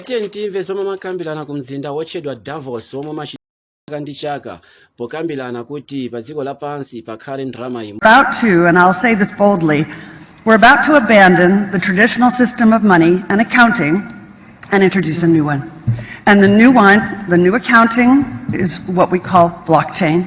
tiyeni timve zomwe amakambirana ku mzinda wotchedwa davos womwe umachitika chaka ndi chaka pokambirana kuti pa dziko lapansi pakhale ndalama imodzi about to, and I'll say this boldly, we're about to abandon the traditional system of money and accounting and introduce a new one. And the new one, the new accounting, is what we call blockchain.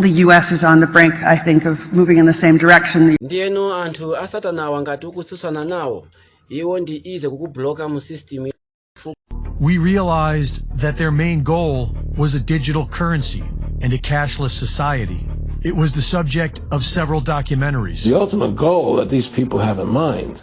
the U.S. is on the brink, I think, of moving in the same direction. ndiyeno anthu asatanawa ngati ukutsutsana nawo iwo ndi ize kukubloka mu system we realized that their main goal was a digital currency and a cashless society. It was the subject of several documentaries. The ultimate goal that these people have in mind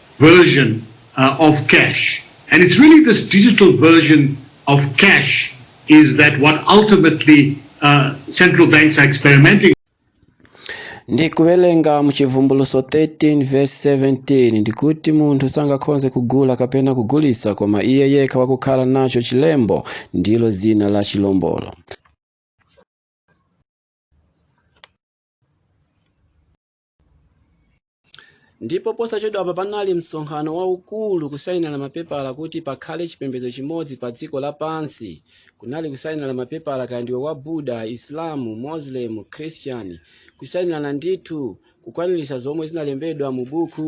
version uh, of cash. And it's really this digital version of cash is that what ultimately uh, central banks are experimenting ndi kuwerenga mu chivumbuluso 13 verse 17 ndikuti munthu sangakhonze kugula kapena kugulisa koma iye yekha wakukhala nacho chilembo ndilo zina la chilombolo ndipo posachedwapa panali msonkhano waukulu kusayinirana mapepala kuti pakhale chipembedzo chimodzi pa dziko lapansi kunali kusayinirana mapepala kaya ndiwe wa buda islamu muslim christian kusayinirana ndithu kukwaniritsa zomwe zinalembedwa mu buku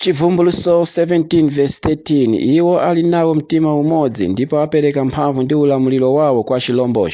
Chivumbuluso 17 verse 13 iwo ali nawo mtima umodzi ndipo apereka mphamvu ndi ulamuliro wawo kwa chilombocho.